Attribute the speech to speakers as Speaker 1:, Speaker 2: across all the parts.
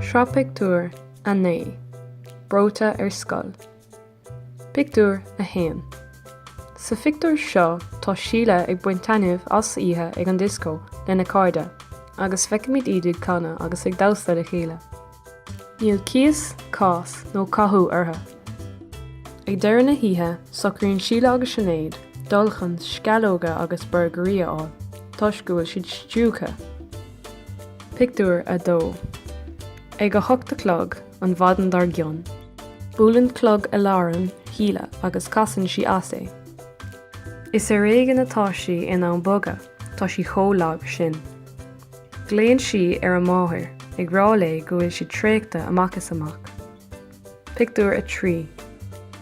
Speaker 1: Sraith Pictiúr 9 Breoite ar Scoil Pictiúr 1 Sa phictiúr seo tá Síle ag baint taitneamh as oíche ag an dioscó lena cairde agus feicimid iad ag canadh agus ag damhsa le chéile. Níl cíos, cás nó cathú orthu. Ag deireadh na hoíche, socraíonn Síle agus Sinéad dul chun sceallóga agus borgairí a fháil toisc go bhfuil siad stiúgtha. Pictiúr 2 Ag a hocht a chlog an mhaidin dár gcionn, buaileann clog aláraim Shíle agus casann sí as é. Is ar éigean atá sí in ann bogadh, tá sí chomh lag sin. Glaonn sí ar a máthair, ag rá léi go bhfuil sí traochta amach is amach. Pictiúr 3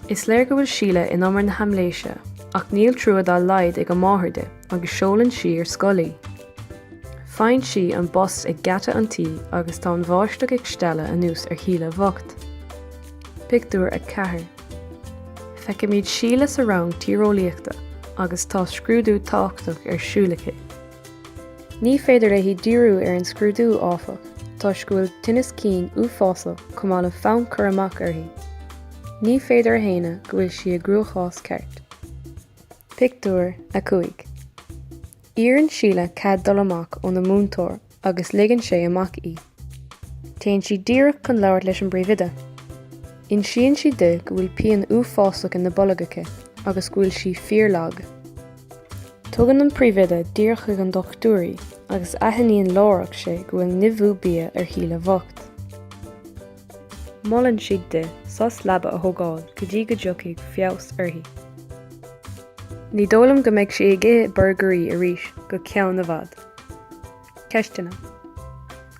Speaker 1: Is léir go bhfuil Síle in umar na haimléise, ach níl trua dá laghad ag a máthair di agus seolann sí ar scoil í. Faigheann sí an bus ag geata an tí agus tá an bháisteach ag stealladh anuas ar Shíle bhocht. Pictiúr 4 Feicimid Síle sa rang tíreolaíochta agus tá scrúdú tábhachtach ar siúl aici. Ní féidir léi díriú ar an scrúdú, áfach, toisc go bhfuil tinneas cinn uafásach chomh maith le fonn cur amach uirthi. Ní féidir a shéanadh go bhfuil sí i gcruachás ceart. Pictiúr 5 Iarrann Síle cead dul amach óna múinteoir agus ligeann sé amach í. Téann sí díreach chun labhairt leis an bpríomhoide. Insíonn sí di go bhfuil pian uafásach ina bolg aici agus go bhfuil sí fíorlag. Tugann an príomhoide díreach chuig an dochtúir í agus aithníonn láithreach sé go bhfuil nimhiú bia ar Shíle bhocht. Molann sí di sos leaba a thógáil go dtí go dtiocfaidh feabhas uirthi. Ní dóigh liom go mbeidh sí ag ithe burgairí arís go ceann i bhfad. Ceisteanna,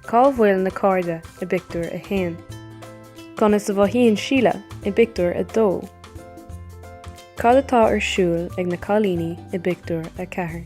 Speaker 1: Cá bhfuil na cairde i bpictiúr a haon? Conas a mhothaíonn Síle i bpictiúr a dó? Cad atá ar siúl ag na cailíní i bpictiúr a ceathair?